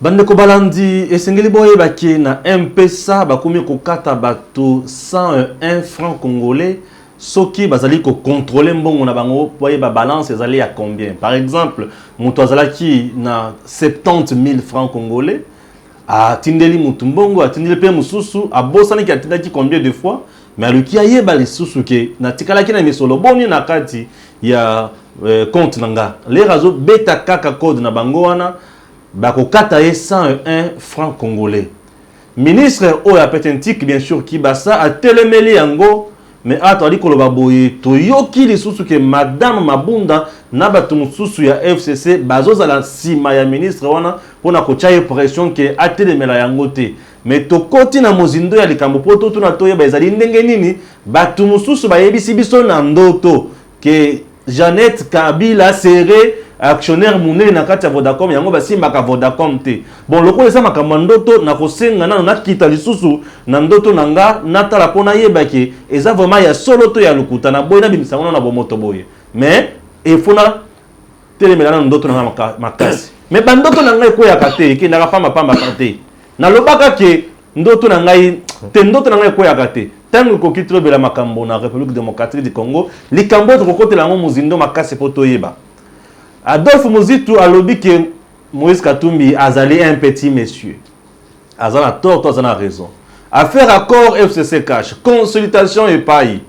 Bandeko balandi, esengeli boyeba ke na MPSA bakomi kokata bato 101 francs congolais soki bazali ko controle mbongo na bango po ayeba balance ezali ya combien. Par exemple, moto azalaki na 70 000 francs congolais atindeli moto mbongo, atindeli pe mosusu, abosani ke atindaki combien de fois, mais aluki ayeba lisusu ke natikalaki na misolo boni na kati ya euh, compte na nga. Lere azobeta kaka code na bango wana Bakokata ye 101 franc congolais. Ministre oyo ya petentique bien sur kibasa atelemeli yango mais awa tozali koloba boye toyoki lisusu ke madame mabunda na batu mosusu ya FCC bazozala sima ya ministre wana pona kotia ye pression ke atelemela yango te mais tokoti na mozindo ya likambo po totuna toyeba ezali ndenge nini batu mosusu bayebisi biso na ndoto que Jeannette Kabila serait actionnaire monene na kati ya Vodacom yango basimbaka Vodacom te bon lokola eza makambo ya ndoto nakosenga nano nakita lisusu na ndoto na nga natala mpo nayeba ke eza vraiment ya solo to ya lokuta na boye nabimisa yango nano na bomoto boye mais efo na telemela nano ndoto na nga makasi mais bandoto na ngai ekweyaka te ekendaka pamba pamba te nalobaka ke ndoto na ngai te ndoto na ngai ekweyaka te ntango ekoki tolobela makambo na république démocratique du congo likambo oyo tokokotela yango mozindo makasi mpo toyeba adolphe mozitu alobi ke moïse katumbi azali un petit monsieur aza na tort to aza na raison affaire accord fcc cash consultation epai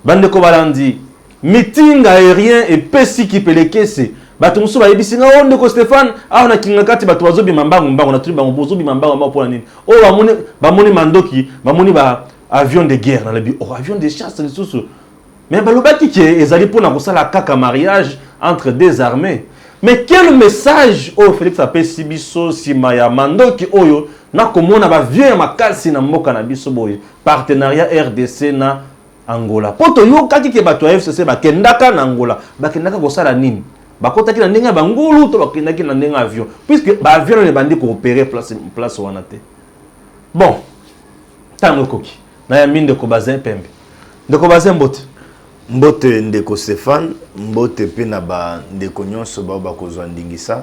bandeko balandi Meeting aerien epesi kipelekese. Bato mosusu bayebisi nga, oh ndeko Stephane, awa na Kingakati bato bazobima mbangu mbangu. Natuni bango, bozobima mbangu mbangu mpo na nini? Oh bamoni, bamoni mandoki, bamoni ba avion de guerre. Nalobi, oh avion de chasse lisusu. Mais balobaki ke ezali mpo na kosala kaka mariage entre deux armées. Mais quel message oyo Felix apesi biso nsima ya mandoki oyo nakomona ba vieux ya makasi na mboka na biso boye partenariat RDC na Angola po toyokaki ke bato ya FCC bakendaka na Angola, bakendaka kosala nini? Bakotaki na ndenge ya ba ngulu to bakendaki na ndenge ya avion? Puisque ba avion nanu ebandi ko operer place place wana te. Bon, tango ekoki. Nayambi ndeko Bazin Pembe. Ndeko Bazin mbote. Mbote ndeko Stephane, mbote pe na ba ndeko nyonso baoyo bakozwa ndingisa.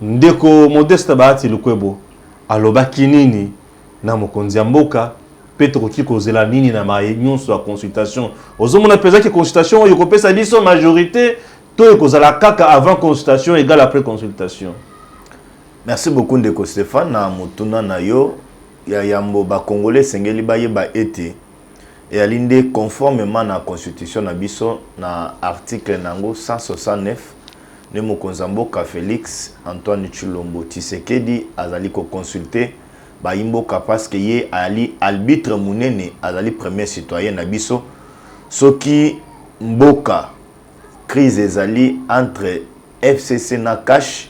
Ndeko Modeste Bahati Lukwebo alobaki nini na mokonzi ya mboka mpe tokoki kozela nini na maye nyonso ya consultation? Ozomona mpenza ke consultation oyo ekopesa biso majorite to ekozala kaka avant consultation egale après consultation? Merci beaucoup ndeko Stephane na motuna na yo ya yambo ba congolais esengeli bayeba ete Eyali nde conformement na constitution na biso na article na yango 169 nde mokonzi ya mboka Felix Antoine Tshilombo Tshisekedi azali ko consulter bayi mboka parce que ye ayali albitre munene azali premier citoyen na biso soki mboka crise ezali entre FCC na CACH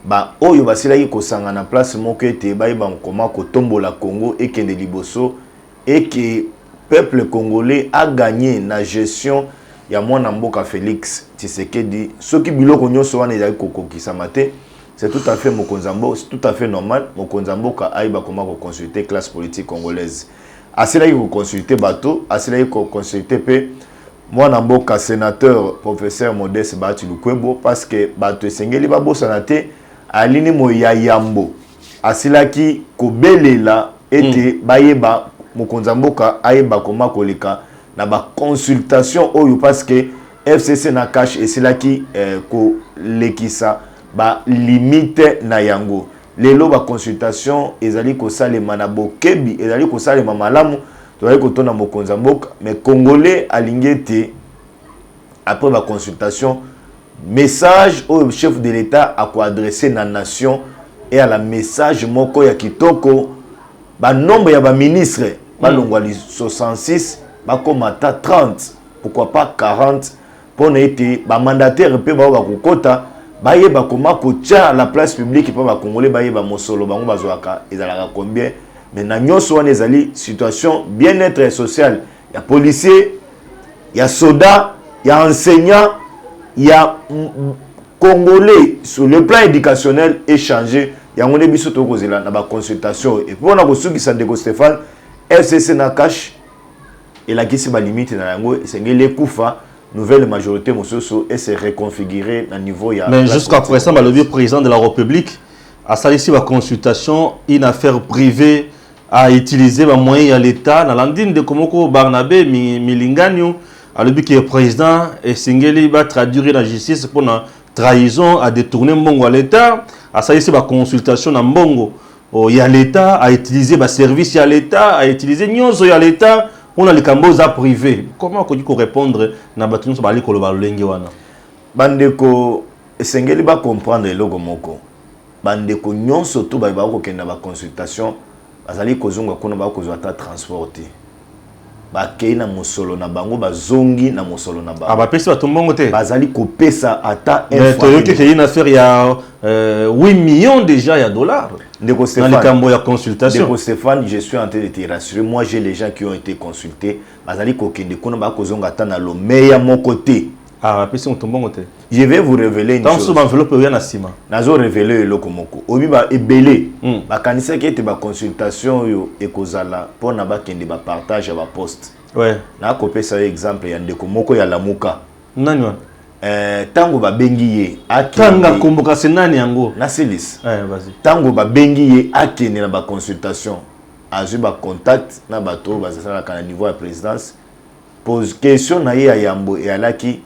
ba oyo basilaki kosangana place moko ete bayeba koma kotombola Congo ekende liboso et que peuple congolais a gagne na gestion ya mwana mboka Felix Tshisekedi soki biloko nionso wana ezali kokokisama te c'est tout à fait mokonzi ya mboka c'est tout à fait normal mokonzi ya mboka ayeba comment ko consulter classe politique congolaise asilaki ko consulter bato asilaki ko consulter pe mwana mboka senateur professeur Modeste Bahati Lukwebo parce que bato esengeli babosana te alini moyi ya yambo Asilaki kobelela ete mm. bayeba mokonzi ya mboka ayeba koma koleka na ba consultation oyo parce que FCC na cash esilaki eh, kolekisa ba limite na yango. Lelo ba consultation ezali kosalema na bokebi, ezali kosalema malamu. Tozali kotona mokonzi ya mboka, mais congolais alingi ete après ba consultation Message oyo chef de l'etat a ko adresser na nation eala message moko ya kitoko, ba nombre ya ba ministres ba longwa 66 ba koma ata 30 pourquoi pas 40 pona ete ba mandataires pe ba oyo ba ko kota ba yeba comment ko tia la place publique po ba congolais ba yeba mosolo bango ba zwaka ezalaka combien mais na nionso wana ezali situation bien etre social ya policier ya soda ya enseignant ya congolais sur le plan éducationnel échange yango nde biso tokoki kozela na baconsultation oyo epo na kosukisa ndeko stéphane fcc na cash elakisi balimite na yango esengeli ekufa nouvelle majorité mosusu ese reconfigure na niveau ya mais jusqu'à présent balobi président de la république asalisi baconsultation une affaire privée a utiliser ba moyens ya l'etat na landi ndeko moko Barnabe Milinganyo alobi que président esengeli ba traduire na justice pona trahison a détourner mbongo ya l'etat asalisi ba consultation na mbongo oh, ya l'etat a utiliser ba service ya l'etat a utiliser nyonso ya l'etat pona likambo eza privé comment akoki ko répondre na bato nyonso bazali koloba lolenge wana bandeko esengeli ba comprendre eloko moko Bandeko nyonso to baye bakokende na baconsultation bazali kozonga kuna bakoki kozwa ata transport te. Bakei na mosolo na bango, bazongi na mosolo na bango. Abapesi bato mbongo te? Bazali kopesa ata un Mais franc toyoki te. que une affaire ya euh, 8 millions dejà ya dollars Ndeko na Stephane, likambo ya consultation. Ndeko Stephane, je suis en train de te rassurer. Moi, j'ai les gens qui ont été consultes. Bazali kokende kuna, bakozonga ata na lomeya moko te. Ah, apesi moto mbongo te. Je vais vous révéler une chose. Tango enveloppe oya na sima. Nazo révéler eloko moko. Obi ba ebele. Hmm. Ba kanisa ki ete ba consultation yo ekozala pour na ba kende ba partage ya ba poste. Ouais. Na ko pesa yo exemple ya ndeko moko ya Lamuka. Nani wana? Euh, tango ba bengi ye akanga kombo kasi nani yango? Na Silis. Eh, ouais, vas-y. Tango ba bengi ye akende na ba consultation. Azwi ba contact na bato bazalaka na niveau ya présidence. Pose question na ye ya yambo ealaki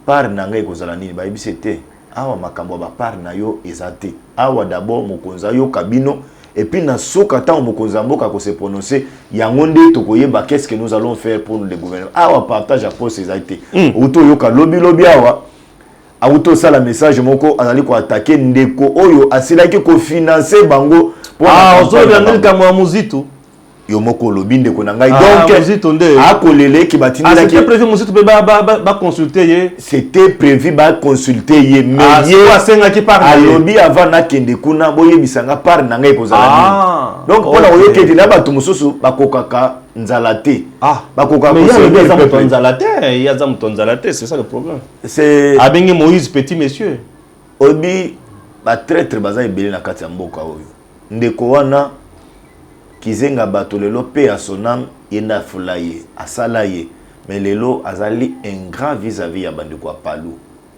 part na nga ekozala nini? Ba yebisi ye te awa makambo ya ba part na yo eza te awa d'abord mokonzi ayoka bino et puis na suka tango mokonzi ya mboka ako se prononcer yango nde toko yeba qu'est ce que nous allons faire pour le gouvernement. Awa partage ya poste ezali te. Owuti oyoka lobi lobi awa awuti osala message moko azali ko attaquer ndeko oyo asilaki ko financer bango pona campagne na bango. Ah ozoloba yango likambo ya Muzitu? yo moko olobi ndeko na ngai ah, donc akolela eke batindelaki ah, prévu mosusu mpe baconsulte ye c'était prévu baconsulte ye mais ah, ye asengaki par alobi avant nakende kuna boyebisa nga part na ngai ekozala nini donc mpona koyoka ete na bato mosusu bakokaka nzala te bakokaka nzala te ye aza moto ya nzala te c'est ça le problème abengi moïse petit monsieur oyebi batraitre baza ebele na kati ya mboka oyo Ndeko wana kizenga bato lelo paix à son ame ye nde afula ye asala ye mais lelo azali ingrat vis à vis ya bandeko ya palu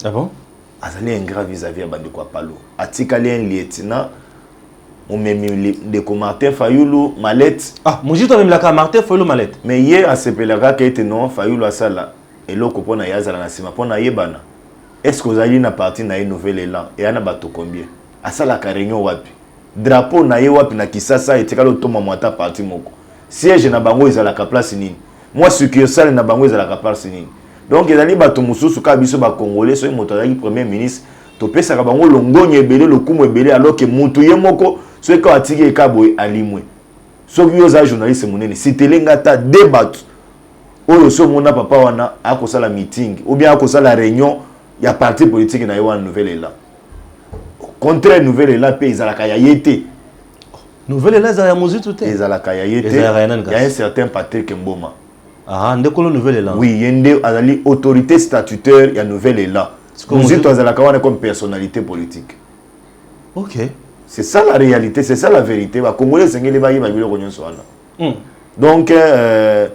ah bon? azali ingrat vis à vis ya bandeko ya palu atikali un lieutenant momemi ndeko Martin Fayulu malette ah mozito amemelaka Martin Fayulu malette mais ye asepelaka ke ete non Fayulu asala eloko mpona ye azala na nsima mpona ayebana est ce que ozali na parti na ye nouvel elan eya na bato combien Asalaka reunion wapi? Drapeau na ye wapi na Kisasa etikali otomba mwa ata parti moko? Siège na bango ezalaka place nini? Mwa succursale na bango ezalaka place nini? Donc ezali bato mosusu kaka biso ba congolais soki moto azalaki premier ministre topesaka bango longonya ebele lokumu ebele alors que mutu ye moko soki kaka atiki ye kaka boye alimwe. Soki yo oza journaliste monene citele nga ata deux bato oyo osi omona papa wana akosala meeting ou bien akosala reunion ya parti politique na ye wana nouvel elan. contraire nouvelle ela mpe ezalaka ya ye te nouvelle ela ezala ya mozitu te ezalaka ya ye te ezalaka ya nani kasi ya un certain Patrick Mboma ah nde kolo nouvelle ela oui ye nde azali autorité statutaire ya nouvelle ela mozitu azalaka wana comme personnalité politique ok c'est ça la réalité c'est ça la vérité ba congolais esengeli bayeba biloko nyonso wana hmm. donc euh,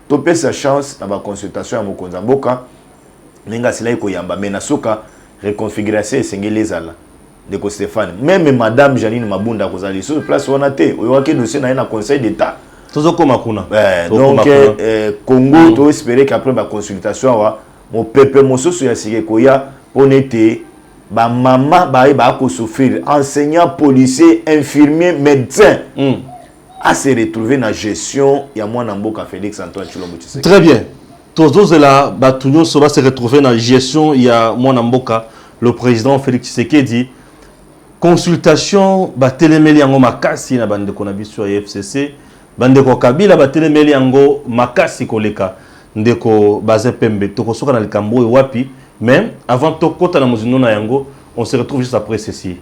topesa chance na baconsultation ya mokonzi ya mboka ndenge asilaki koyamba mais na suka reconfiguration esengeli ezala ndeko Stéphane meme madame Janine Mabunda akozala lisusu place wana te oyokaki dossier na ye na conseil d'état tozokoma kuna eh, donc eh, eh, Congo mm. to espérer qu'après ba consultation awa mopepe mosusu ya sika ekoya mpo na ete bamama baye bakosouffrir enseignant policier infirmier médecin mm. à se retrouver na gestion ya mwana mboka Félix Antoine Tshilombo Tshisekedi très bien Tozozela bato nyonso ba se retrouver na gestion ya mwana mboka le président Félix Tshisekedi. Consultation batelemeli yango makasi na bandeko na biso ya FCC. Bandeko ya Kabila batelemeli yango makasi koleka. Ndeko Bazin Pembe, tokosoka na likambo oyo wapi? Mais avant tokota na mozindo na yango, on se retrouve juste après ceci.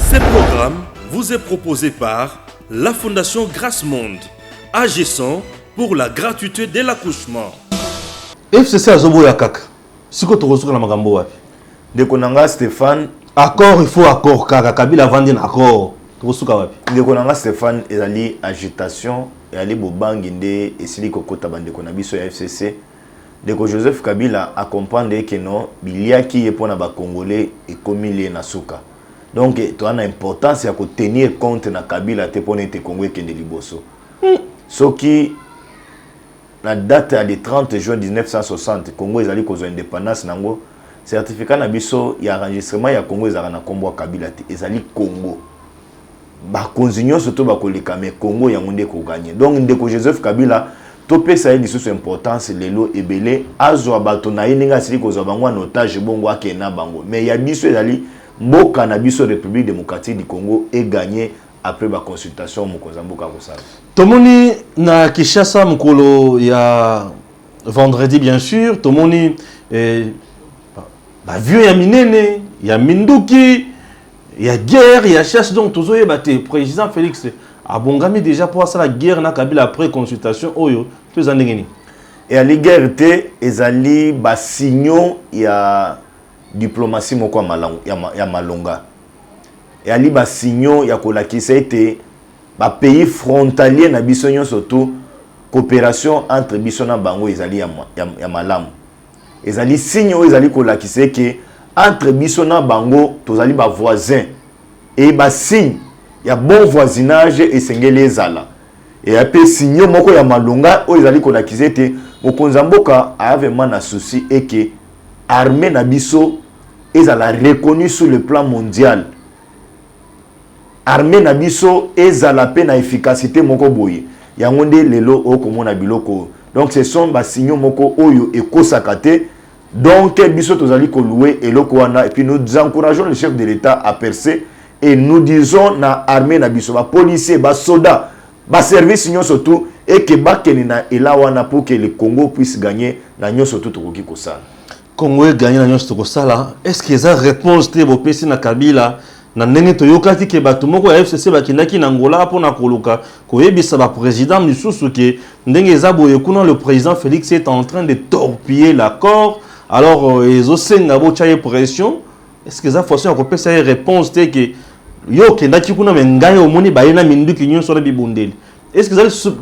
Ce programme vous est proposé par la Fondation Grace Monde, agissant pour la gratuité de l'accouchement. fcc azoboya kaka siko tokosuka na makambo wapi ndeko na nga stéphane accord il faut accord kaka kabila avandi na accord tokosuka wapi ndeko na nga stéphane ezali agitation ezali bobangi nde esili kokota bandeko na biso ya fcc Ndeko Joseph Kabila a comprendre ye que no biliaki ye pona ba congolais ekomi lie na suka donc toza na importance ya ko tenir compte na Kabila te pona ete Congo ekende liboso soki na date ya le 30 juin 1960 Congo ezali kozwa independance na yango certificat na biso ya enregistrement ya Congo ezalaka na kombo ya Kabila te ezali Congo bakonzi nyonso to bakoleka me Congo yango nde ekoganye. Donc ndeko Joseph Kabila topesa ye lisusu importance lelo ebele azwa bato na ye ndenge asili kozwa bango en otage bongo akende na bango me ya biso ezali mboka na biso République démocratique du Congo eganye après ba consultation mokonzi ya mboka akosala. Tomoni na Kinshasa mokolo ya vendredi bien sûr tomoni eh, ba vieux ya minene ya minduki ya guerre ya chasse donc tozoyeba te président félix abongami déjà mpo asala guerre na kabila après consultation oyo to eza ndenge nini eyali guerre te ezali basignaux ya diplomatie moko ya malonga eyali basignaux ya kolakisa ete bapays frontalier na biso nyonso to coopération entre biso na bango ezali ya, ya, ya malamu Ezali signe oyo ezali kolakisa eke entre biso na bango tozali ba voisins et ba signes ya bon voisinage esengeli ezala et pe signaux moko ya malonga oyo ezali kolakisa ete mokonzi ya mboka aya vraiment na souci eke armee na biso ezala reconnue sur le plan mondial. armee na biso ezala pe na efficacite moko boye yango nde lelo okomona biloko oyo donc ce sont ba signaux moko oyo ekosaka te donc biso tozali ko louer eloko wana et puis nous encourageons le chef de l'etat à percer et nous disons na armee na biso ba policiers ba soda ba service nyonso tout et que bakende na ela wana pour que le Congo puisse gagner na nyonso tout tokoki kosala Congo e gagne na nionso tokosala est ce que eza reponse te bopesi na Kabila na ndenge toyokaki ke bato moko ya FCC bakendaki na Angola mpo na koluka koyebisa ba president misusu ke ndenge eza boye kuna le president Felix est en train de torpiller l'accord alors euh, ezosenga botya ye pression est ce que eza façon ya kopesa ye reponse te ke yo okendaki kuna me ngai omoni baye na minduki nyonso na bibundeli est ce que ezali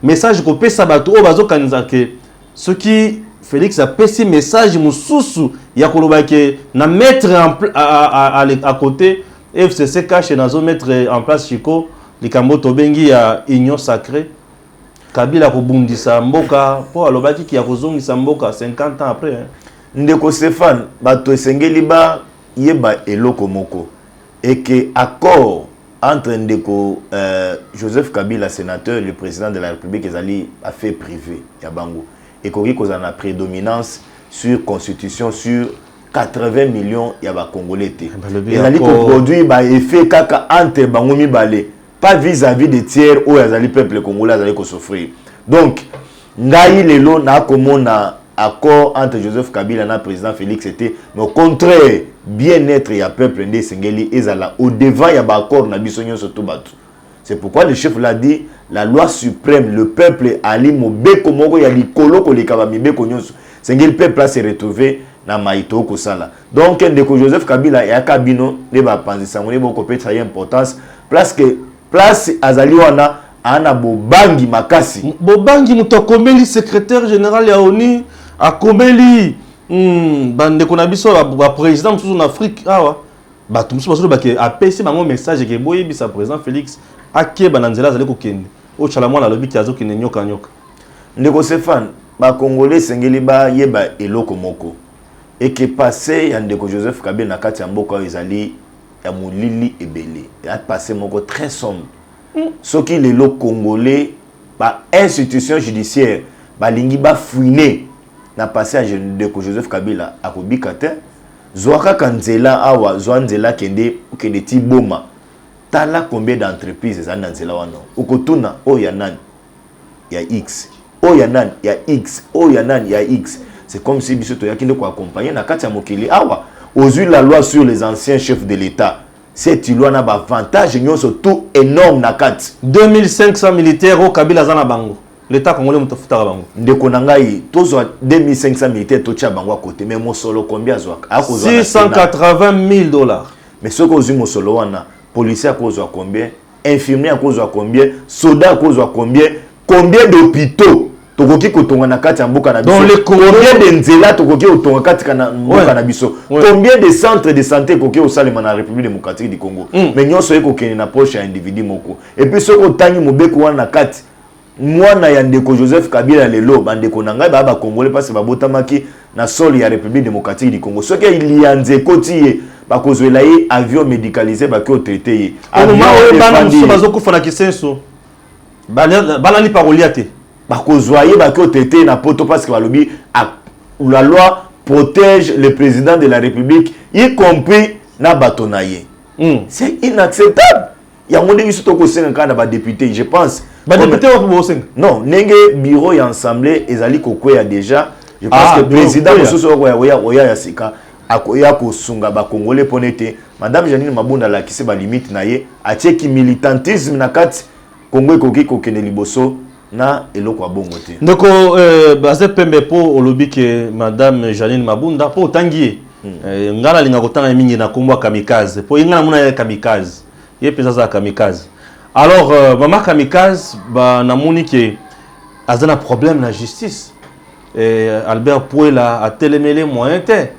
message kopesa bato oyo bazokanisa ke Soki Felix apesi message mususu ya koloba ke na mettre en à côté FCC cache na zo mettre en place Chico likambo tobengi ya union sacrée Kabila kobundisa mboka po alobaki ki ya kozongisa mboka 50 ans après. Ndeko Stephane, bato esengeli ba yeba eloko moko. et que accord entre ndeko Joseph Kabila senateur et le president de la Republique ezali ba faits prives ya bango ekoki kozala na predominance sur constitution sur 80 millions ya ba congolais te, ezali ko produire ba effets kaka entre bango mibale. pas vis à vis de tiers oyo azali peuple congolais azali ko souffrir donc ngai lelo na komona accord entre Joseph Kabila na président Félix était mais au contraire bien-être ya peuple nde esengeli ezala au devant ya ba accord na biso nyonso to bato c'est pourquoi le chef l'a dit la loi suprême le peuple ali mobeko moko ya likolo koleka ba mibeko nyonso sengeli peuple a se retrouver na mayi tokosala donc ndeko joseph kabila eyaka bino nde bapanzi sango nde bokopesa ye importance place que place azali wana ana bobangi makasi bobangi moto akomeli secrétaire général ya oni akomeli hmm, bandeko na biso baprésident mosusu na afrique awa bato mosusu bazoloba ke apesi bango message ke boyebisa président félix akeba na nzela azali kokende oyo chala mwana alobi ke azokende nyokanyoka ndeko stéphane bakongole esengeli bayeba eloko moko et que passe ya ndeko Joseph Kabila na kati ya mboka oyo ezali ya molili ebele ya passe moko très sombre hmm. soki lelo congolais ba institution judiciaire balingi bafouine na passe ya ndeko Joseph Kabila akobika te zwa kaka nzela awa zwa nzela kende okende ti boma tala combien d'entreprise ezali na nzela wana okotuna oyo ya nani ya X oyo ya nani ya X oyo ya nani ya X c'est comme si biso toyaki nde koaccompagne na kati ya mokili awa ozwi la loi sur les anciens chefs de l'État cette loi na baavantage nyonso tout énorme na kati 2500 militaire oyo kabila aza na bango leta congolais moto afutaka bango ndeko na ngai tozwa 2500 militaire totya bango ya kote mais mosolo combien azwaka aya kozwa 680 000 dollars mais soki ozwi mosolo wana policier akozwa combien infirmier akozwa combien soda akozwa combien combien d'hôpitaux tokoki kotonga na kati ya mboka na biso combien de nzela tokoki kotonga kati na mboka na biso combien de centre de santé ekoki kosalema na république démocratique du congo mm. mais nyonso ye kokende na proche ya individu moko epuis soki otangi mobeko wana na kati Mwana ya ndeko Joseph Kabila ya lelo, bandeko na ngai baya ba Congolais pasi babotamaki na sol ya Republique Democratique du Congo. Soki liyanzi ekoti ye, bakozwela ye avion medicalise baki otraite ye. Avion oyo efandi ye. bazokufa na kisenso, balali pa kolia te. Bakozwa ye baki otraite ye na poto parce que balobi la loi protège le president de la Republique y compris na bato na ye. C'est inacceptable. yango nde biso tokosenga kaka na badepute je pense badepute wapi bosenga non ndenge bureau ya ensemble ezali kokweya déjà je pense ah, que président mosusu okoya oya ya sika akoya kosunga bakongole mpo na ete madame janine mabunda alakisi balimite na ye atieki militantisme na kati kongo ekoki kokende liboso na eloko ya bongo te ndeko euh, baze pembe mpo olobi ke madame janine mabunda mpo otangi ye hmm. euh, ngai nalinga kotanga ye mingi na nkombo ya kamikaze mpo ye ngai namona ye kamikaze ye mpenza aza kamikaze alors euh, mama kamikaze namoni ke aza na problème na justice euh, albert puela atelemele moyen te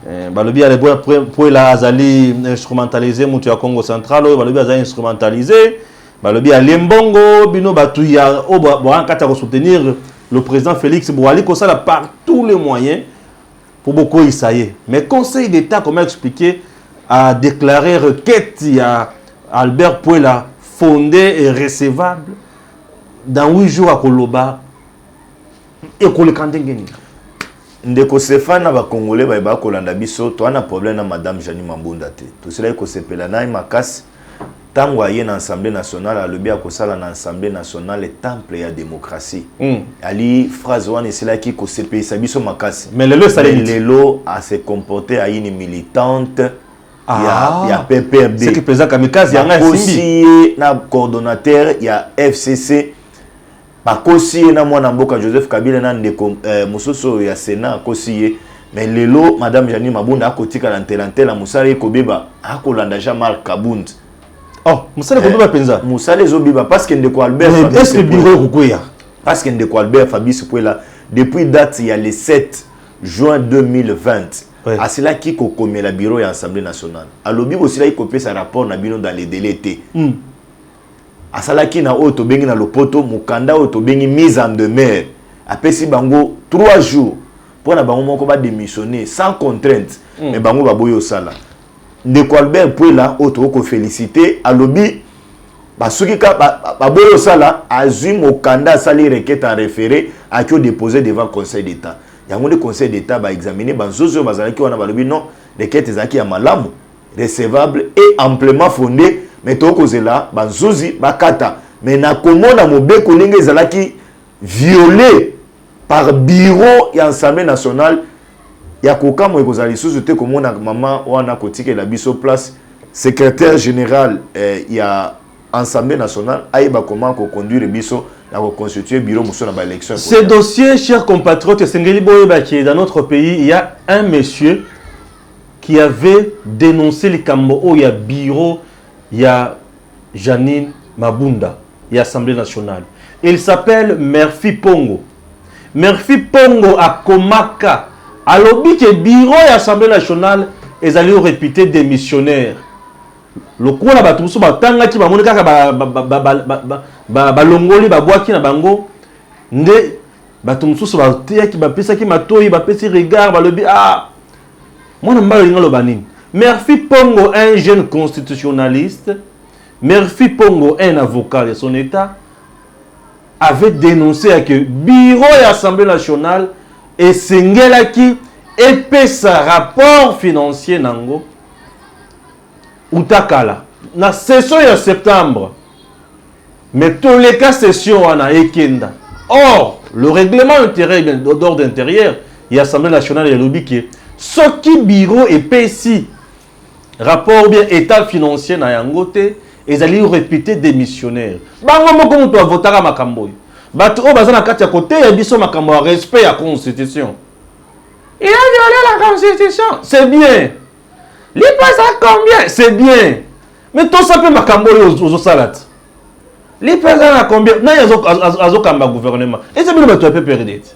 euh, balobi albert puela azali instrumentalisé moto ya congo central oyo balobi azali instrumentalisé Balobi alie mbongo bino batu ya o boa kata ko soutenir le président Félix boali ko sala par tous les moyens pour bokoyisa ye mais conseil d'état comme a expliqué a déclarer requête ya Albert Puela fondée et recevable dans 8 jours akoloba ekoleka ndenge nini ndeko Stéphane na ba congolais baye bakolanda biso toa na problème na madame Janie Mambunda te tosilaki kosepela na ye makasi ntango aye na Assemblée nationale alobi akosala na Assemblée nationale temple ya démocratie mm. ali phrase wana esilaki kosepelisa biso makasi mais lelo esaleli lelo a se comporter à une militante ah. ya, ya PPRD c'est que président kamikaze yanga esimbi ye na coordonnateur ya FCC Bakosi ye na mwana mboka Joseph Kabila na ndeko eh, mosusu oyo ya Senat akosi ye mais lelo madame Janine Mabunda akotikala ntela ntela mosala ye kobeba akolanda Jean Marc Kabund oh mosala eh, ekobeba mpenza mosala ezobeba parce que ndeko Albert mais est-ce que bureau ekokweya parce que ndeko Albert Fabrice Puela depuis date ya le 7 juin 2020 oui. asilaki kokomela bureau ya assemblée nationale alobi bosilaki kopesa rapport na bino dans les délais te mm. asalaki na oyo tobengi na lopoto mokanda oyo tobengi mise en demeure apesi bango 3 jours mpo na bango moko bademissionne sans contrainte mm. me bango baboyi osala ndeko albert puela oyo tokoki kofélicite alobi basuki ka baboyi ba osala azwi mokanda asali requête en référé aki odépose devant conseil d'état yango nde conseil d'état baexamine banzozi oyo bazalaki wana balobi non requête ezalaki ya malamu recevable et amplement fonde mais tokozela bazuzi bakata mais na komona mobeko ndenge ezalaki viole par bureau ya ensemble national ya kokamwa ekozala lisusu te komona mama wana kotikela biso place secrétaire général eh, ya ensemble national ayeba koma koconduire biso na koconstitue bureau mosusu na baélection ce dossier cher compatriote esengeli boyeba ke dans notre pays il ya un monsieur qui avait denonce likambo oyo ya bureau ya Jeanine Mabunda ya Assemblee nationale. Il s'appelle Murphy Pongo. Murphy Pongo akomaka alobi ke bureau ya Assemblee nationale ezali repute des missionnaires. Lokola bato mosusu batangaki bamoni kaka balongoli babwaki na bango nde bato mosusu bateyaki bapesaki matoi bapesi regard balobi ah mwana mobali olingi aloba nini merfi pongo un jeune constitutionnaliste merfi pongo un avocat de son état avait dénoncé ya que bureau ya assemblée nationale esengelaki epesa rapport financier na yango uta kala na session ya septembre Mais toleka session wana ekenda. Or, le règlement intérieur d'ordre intérieur ya Assemblée nationale elobi que soki bureau epesi rapport ou bien etat financier na yango te, ezali reputer demissionnaire. Bango moko mutu ba votaka makambo oyo. Batu oyo baza na kati ya koteya biso makambo ya respect ya constitution. Il a violé la constitution, c'est bien. Lipasa combien? C'est bien. Mais tosa mpe makambo oyo ozosala ti lipo eza na combien nani azokamba gouvernement eza bino bato ya pprd ti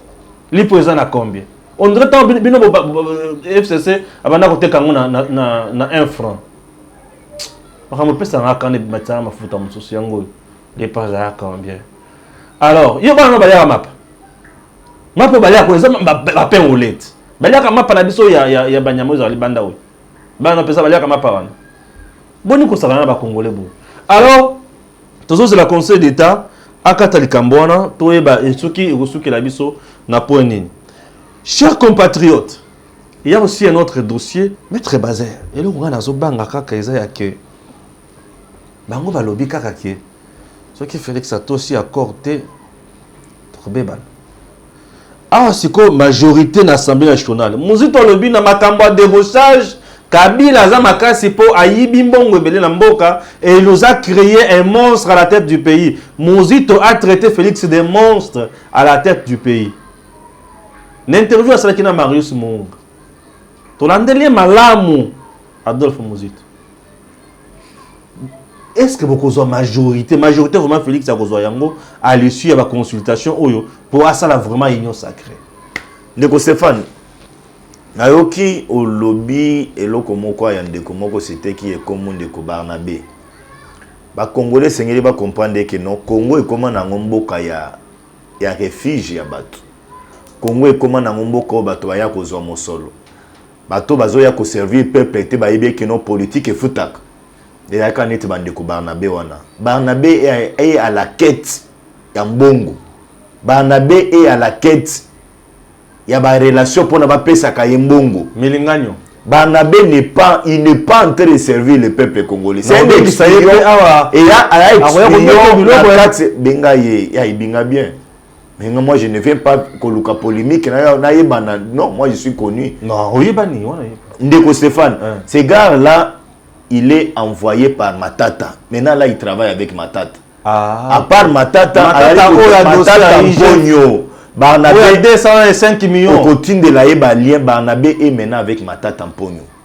lipo eza na combien on dirait ntango bino fcc abanda koteka yango na 1 franc makambo epesaka nga kanda ebimatisaka mafuta mosusu yango oyo lipo azala combien alors yo bana no balyaka mapa mapa oyo balyaka oyo eza bapengolete balyaka mapa na biso ya banyama oyo ezala libanda oyo bana pesa baliaka mapa wana boni kosakana na bakongole boye alors tozozela conseil d'état akata likambo wana toyeba soki ekosukela biso na point nini cher compatriote il y a aussi un autre dossier maître bazer eloko ngai nazobanga kaka eza ya ke bango balobi kaka ke soki félix atosi accord te tokobebana Awa sikoyo majorite na assemblee nationale, Muzito alobi na makambo ya debauchage, Kabila aza makasi mpo ayibi mbongo ebele na mboka et il nous a cree un monstre à la tete du pays. Muzito a traite Felix de monstre à la tete du pays. Na interview asalaki na Marius Muunga. Tolandeli ye malamu Adolphe Muzito. est ce que bokozwa majorité majorité vraiment félix akozwa yango à l'issue ya baconsultation oyo mpo asala vraiment union sacré ndeko stéphane nayoki olobi eloko moko ya ndeko moko siteki ekomo ndeko barnabe bakongole esengeli bacomprendre eke non congo ekoma na yango mboka ya, ya refuge ya bato congo ekoma na yango mboka oyo bato baya kozwa mosolo Bato oyo bazoya ko servir peuple te bayebi ye que non politique efutaka. Ezalaka neti ba ndeko Barnabe wana. Barnabe est à la quete ya mbongo. Barnabe est à la quete ya ba relations pona ba pesaka ye mbongo. Milinganyo. Barnabe n'est pas, il n'est pas en train de servir le peuple congolais. C'est un espion et a, a espion na kati, benga ye, ya ebinga bien. Mais moi je ne viens pas koluka polémique na na yebana non moi je suis connu. Non, oyebani wana yeba. Ndeko Stéphane, hein. ce gars là il est envoyé par Matata. Maintenant là il travaille avec Matata. Ah. À part Matata, Matata oyo ya Matata Mbonyo. Barnabé 205 millions. Okotindela ye ba lien Barnabé est maintenant avec Matata Mbonyo.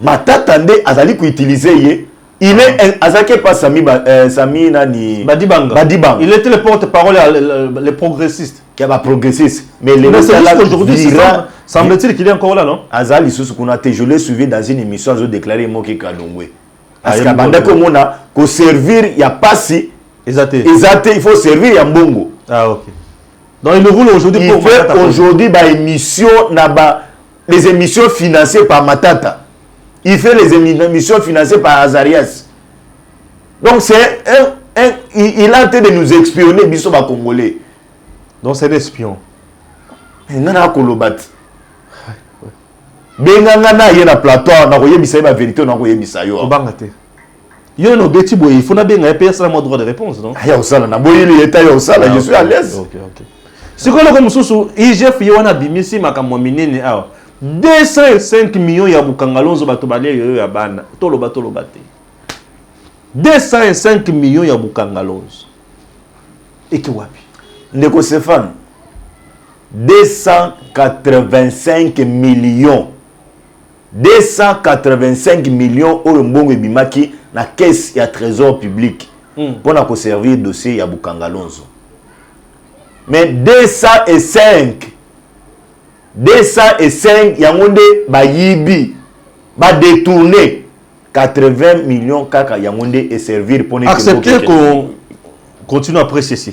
Matata nde azali ko utiliser ye il est ah. azalaki epa sami ba, euh, sami nani badibanga badibanga il était le porte parole ya les progressistes ya ba progressistes mais les mais c'est juste aujourd'hui semble-t-il qu'il est encore là non aza lisusu kuna te je l'ai suivi dans une émission azo déclarer moki kalongwe ah, parce que banda ko mona ko servir ya pasi eza te eza te il faut servir ya mbongo ah OK donc il le roule aujourd'hui pour aujourd'hui ba émission na ba les émissions financées par Matata. Il fait les émissions financées par Azarias. Donc c'est un, un, il, il a été de nous espionner, biso ba Congolais. Donc c'est l'espion. nga na koloba te benga nga na ye na plateau na koyebisa ye bavérité na koyebisa yo obanga te Yo na obeti boye, il faut na benga pe asala moi droit de réponse non? Aya osala na boye il est aya osala, ah, je suis à l'aise. OK OK. Siko loko mususu IGF ye wana bimisi makambo minene awa. 205 millions ya bukangalonzo bato balia yoyo ya bana. Toloba toloba te. 205 millions ya bukangalonzo. Eki wapi? Ndeko Stéphane 285 millions 285 millions oyo mbongo ebimaki na caisse ya tresor public hmm. mpo na koservir dossier ya bukangalonzo mais 205 205 yango nde bayibi badetourne 80 millions kaka yango nde eservir mpo accepter ko continue après ceci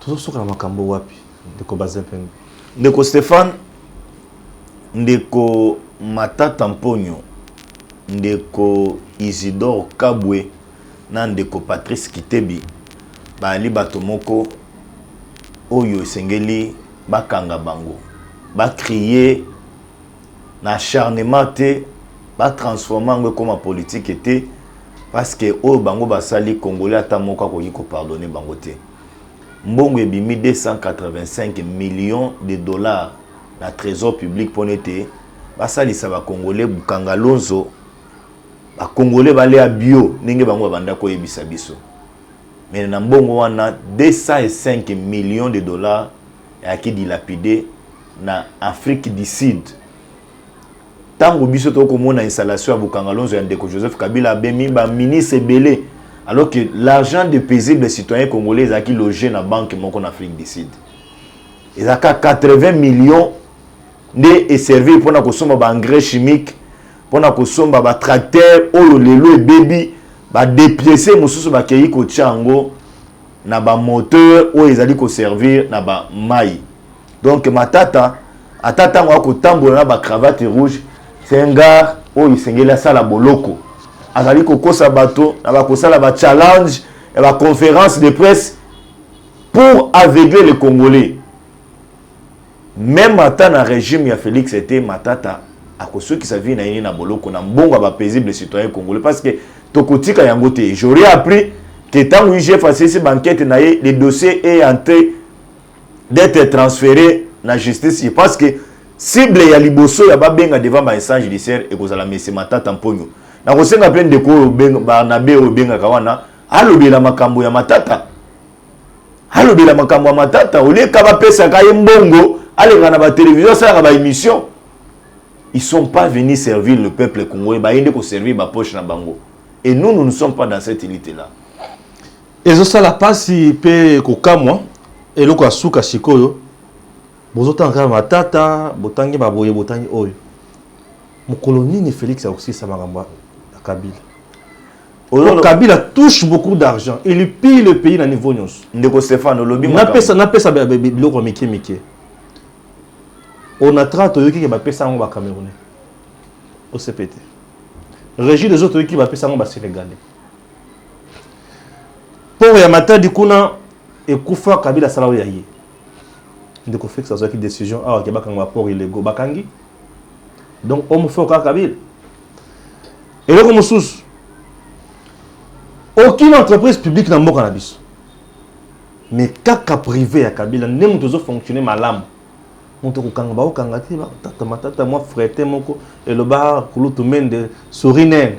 tozo suka na makambo wapi ndeko Bazempeng? Ndeko Stephane, ndeko Matata Mponyo, ndeko Isidore Kabwe na ndeko Patrice Kitebi baali bato moko oyo esengeli bakanga bango, ba crier na acharnement te ba transformer yango ekoma politique te parce que oyo bango basali congolais ata moko akoki ko pardonner bango te mbongo ebimi 285 millions de dollars na trésor public pona ete basalisa ba congolais bukanga lonzo ba congolais balea bio ndenge bango babanda koyebisa biso mais na mbongo wana 205 millions de dollars ayaki dilapide na afrique du sud ntango biso tokoki komona installation ya bokangalonzo ya ndeko joseph kabila abemi baministre ebele alors que l'argent de paisible citoyen congolais ezalaki loge na banque moko na afrique du sud ezalaka 80 millions nde eservir mpo na kosomba baengrais chimique mpo na kosomba batracteur oyo lelo ebebi badepiese mosusu bakei kotya yango na ba moteur oyo ezali ko servir na ba mayi donc matata ata ntango akotambola na ba cravate rouge c'est un gars oyo esengeli asala boloko azali kokosa bato na bakosala ba challenge ya ba conférence de presse pour aveugler les congolais Meme ata na regime ya Felix te Matata akosukisa vie na ye na boloko na mbongo ya ba paisibles citoyens congolais parce que tokotika yango te. J'aurais appris que tango IGF asilisi ba enquetes na ye, le dossier est en train d'etre transfere na justice ye parce que cible ya liboso ya babenga devant ba instances judiciaires ekozala monsieur Matata Mponyo. Nakosenga mpe ndeko oyo Barnabe oyo obengaka wana alobela makambo ya Matata alobela makambo ya matata olieka bapesaka ye mbongo aleka na batelevizio asalaka baémission ils sont pas venus servir le peuple congolais baye nde koservir bapoche na bango et nous nous ne sommes pas dans cette élite là ezosala mpasi mpe kokamwa eloko ya suka sikoyo bozotanga kaka matata botangi baboye botangi oyo mokolo nini félix akosilisa makambo ya kabila Oyo Kabila touche beaucoup d'argent. Il pille le pays na niveau nyonso. Ndeko Stefano, lobi makambo. Na pesa, na pesa biloko ya mike mike. Onatra toyoki ke ba pesa yango ba Camerounais. Au CPT. Régie des autres toyoki ba pesa yango ba Sénégalais. Port ya Matadi kuna ekufa Kabila sala oyo ya ye. Ndeko Fix azwaki décision awa ke bakanga ba port illégaux bakangi. Donc homme fort kaka Kabila. eloko mosusu aucune entreprise publique na mboka na biso mais kaka privé ya kabila nde moto ezofonctionne malamu moto kokanga bakokanga te batata matata mwa frete moko eloba kulutu mende sorinene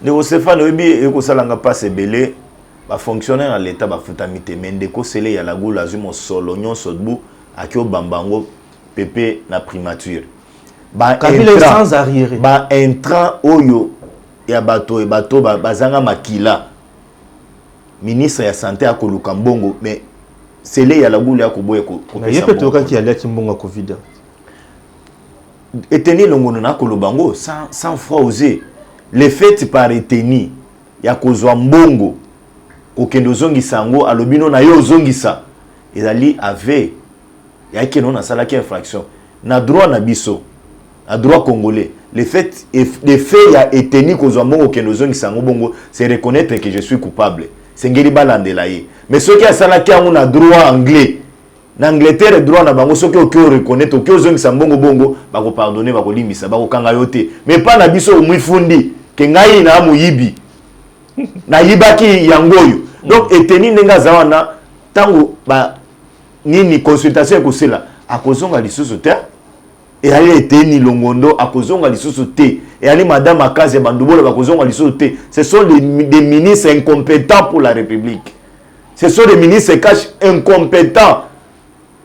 ndeko stefane oyebi ekosalanga mpasi ebele bafonctionnaire ya leta bafutami te me ndeko sele ya lagula azwi mosolo nyonso dbu akio bamba yango pepe na primature ba intrants ba intrants oyo ya bato bato bazanga makila ministre ya sante akoluka mbongo mais sele ya lagulu ya koboya koyokaki aliaki mbongo ya covid eteni elongono na koloba yango sans, sans froid ose le fait par eteni ya kozwa mbongo kokende ozongisa yango alobi no na yo ozongisa ezali ave yaki no nasalaki infraction Na droit na biso, na droit congolais, le fait de fait ya eteni kozwa mbongo okende ozongisa yango bongo c'est reconnaitre que je suis coupable. Esengeli balandela ye. Mais soki asalaki yango na droit anglais, na Angleterre droit na bango soki oke o reconnaitre, oke ozongisa mbongo bongo, bako pardonner, bakolimbisa, bakokanga yo te. Mais epai na biso omifundi que ngai naa moyibi, nayibaki yango oyo. Donc eteni ndenge aza wana tango ba nini consultation ekosela akozonga lisusu te eyali eteni longondo akozonga lisusu te eyali madame akazi ya bandubola bakozonga lisusu te ce sont des, des ministres incompétents pour la république ce sont des ministres cash incompétents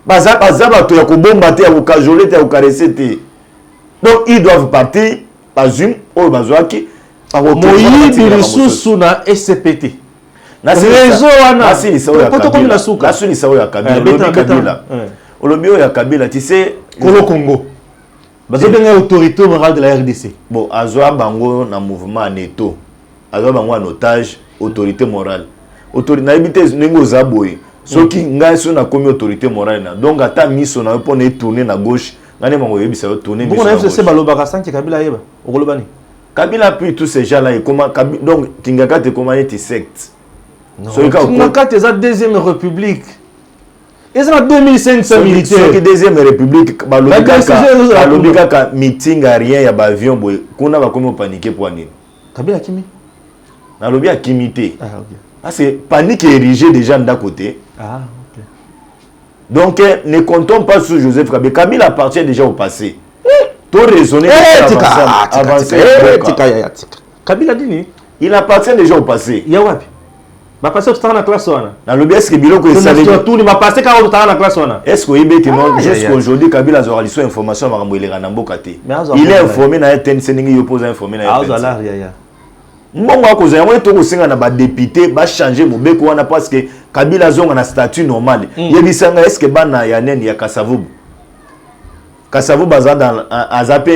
baza baza bato ya kobomba te ya kokajole te ya kokarese te donc ils doivent partir bazwi oyo bazwaki moyibi lisusu na ecpt reseau wana po tokomi na suka nasilisa oyo ya kabila eh, olobi kabila eh. olobi oyo ya kabila tu sais kolo congo bazobenga ye autorité morale de la rdc bon azwa bango na mouvement ya neto azwa bango en otage autorité morale nayebi te ndenge oza boye soki mm. ngai soki nakomi autorité morale na donc ata miso na yo mpo na etourne na gauche ngai nde bango oyebisa yo tourne miso na gauche balobaka sanki kabila ayeba okoloba nini Kabila puis tous ces gens là ekoma donc Kingakati ekoma neti secte. Soki ka Kingakati eza deuxième république. eza na 2500 militaire deuxième république balobi kaka meeting ya rien ya baavion boye kuna bakomi opanike mpo nini kabila akimi nalobi akimi te ah, parce que panique érigé déjà ndako te ah, donc eh, ne comptons pas sur joseph kabila kabila appartient déjà au passé to raisonner eh, tika ah, tika tika eh, tika ya tika kabila dini il appartient déjà au passé ya wapi bapase kotanga na classe wana nalobi eske biloko esaletuni bapase kaka kotanga na classe wana eske oyebi ete ah, jusqu'aujourd'hui kabila azwaka liso information ya makambo eleka na mboka te il est informé na ye tnc ndenge yo mpo oza informé na ye mbongo akozwa yango ete okosenga na badepute bachange mobeko wana parce que kabila azonga na statut normal hmm. yebisanga eske bana ya nene ya kasavubu Kasavu baza dans aza pe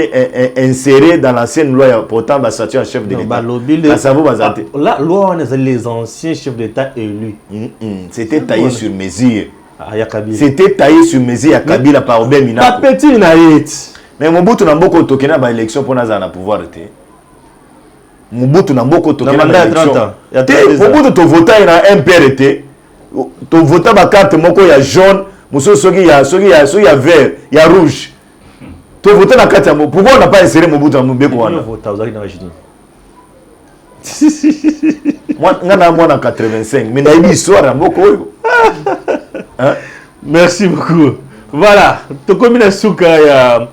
inséré dans l'ancienne loi ya pourtant ba statut ya chef de l'État. Kasavu baza te. Ah, la loi on ezali les anciens chefs d'État élus. Mm -mm. C'était taillé sur mesure. Ah, ya Kabila. C'était taillé sur mesure ya Kabila par Obey Minaku. Pas petit na yet. Mais Mobutu na mboko toke na ba élection pona za na pouvoir te. Mobutu na mboko toke na ba élection. Te Mobutu to voter na MPR te. to vota ba carte moko ya jaune mosusu soki ya soki ya soki ya vert ya rouge to vota na carte yango pourquoi on n'a pas inséré Mobutu na mobeko wana vota ozali na âge nga na mwana 85 mais nayebi histoire ya mboka oyo merci beaucoup voilà tokomi na suka ya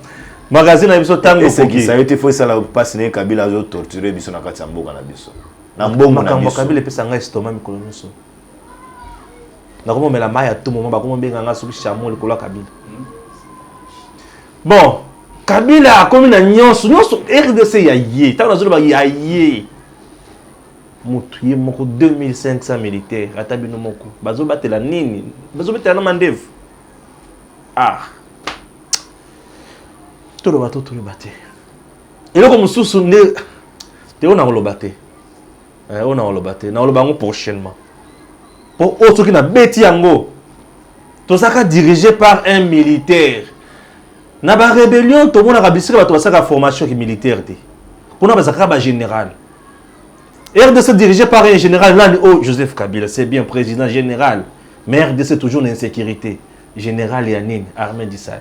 magazine na biso ntango esekisa yo te fo esala mpasi na ye kabila azotorture biso na kati ya mboka na biso Na mbongo na biso. Makambo ya Kabila epesa nga estomac mikolo nyoso. Nakomomela mayi ya tout moment, bakomobenga nga soki chameau likolo ya Kabila. Bon, Kabila akomi na nyonso, nyonso RDC ya ye. Tango nazoloba ya ye. Mutu ye moko 2500 militaires ata bino moko bazobatela nini? Bazobatela na mandevu. Ah. Toloba to toloba te. eloko mosusu nde te oyo nakoloba te eh, oyo nakoloba te nakoloba yango prochainement mpo oyo soki nabeti yango tozalaka dirige par un militaire na barébellion tomonaka bisika bato basalaka formation ki militaire te kuna bazalaka bagénéral rdc dirige par un général nani oyo oh, joseph kabila c'est bien président général mais rdc toujours na insécurité général ya nini armée disali